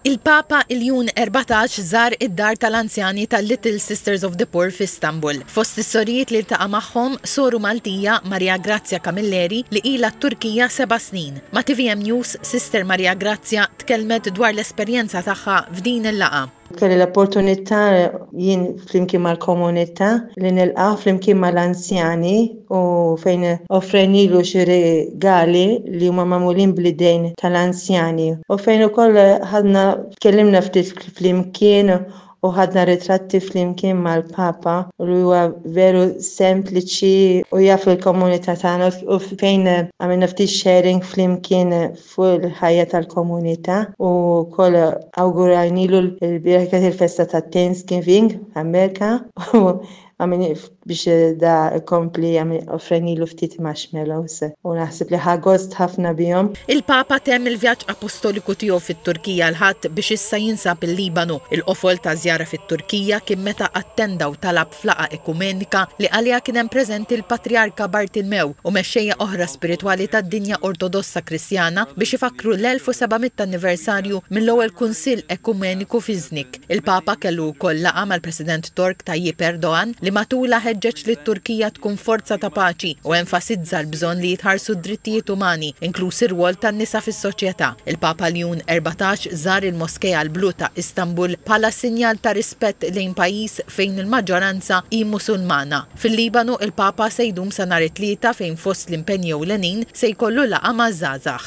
Il-Papa Il-Jun 14 żar id-dar tal-anzjani tal-Little Sisters of the Poor f'Istanbul. Fost is-sorijiet li ltaqa' magħhom, soru Maltija, Maria Grazia Camilleri, li ilha t-Turkija seba' snin. Ma' tvm News, Sister Maria Grazia tkellmet dwar l-esperjenza tagħha f'din il-laqgħa. Kelli l-opportunità jien flimkien mal-komunità li nilqa' flimkien mal-anzjani u fejn offrejnilu xi rigali li huma magħmulin bl-idejn tal-anzjani u fejn ukoll ħadna tkellimna ftit flimkien u ħadna ritratti flimkien mal-Papa li huwa veru sempliċi u jaf il-komunità tagħna u fejn għamilna ftit sharing flimkien fuq il-ħajja tal-komunità u wkoll awgurajnilu l-bieraħ kienet il-festa tat-Thanksgiving f'Amerka u biex da jkompli offrejnilu ftit marshmallows u naħseb li ħa gost ħafna bihom. Il-Papa temm il-vjaġġ apostoliku tiegħu fit-Turkija l-Ħadd biex issa jinsab il-Libanu. Il-qofol taż-żjara fit-Turkija kien meta attenda u talab F'laqgħa ekumenika, li għaliha kien hemm preżenti l-Patrijarka Bartilmew u mexxejja oħra spiritwali tad-dinja Ortodossa Kristjana biex ifakkru l-1700 anniversarju mill-ewwel Kunsill Ekumeniku f'Iznik, il-Papa kellu wkoll laqgħa mal-President Tork Tayyip Erdogan li matulha ħeġġeġ lit-Turkija tkun forza ta' paċi u enfasizza l-bżonn li jitħarsu d-drittijiet umani, inkluż ir-rwol tan-nisa fis-soċjetà. Il-Papa Leon Erbatax żar il-Moskea l-Blu ta' Istanbul bħala sinjal ta' rispett lejn pajjiż fejn il-maġġoranza hi Musulmana. Fil-Libanu, il-Papa se jdum sa nhar it-Tlieta fejn fost l-impenji ewlenin se jkollu laqgħa maż-żgħażagħ.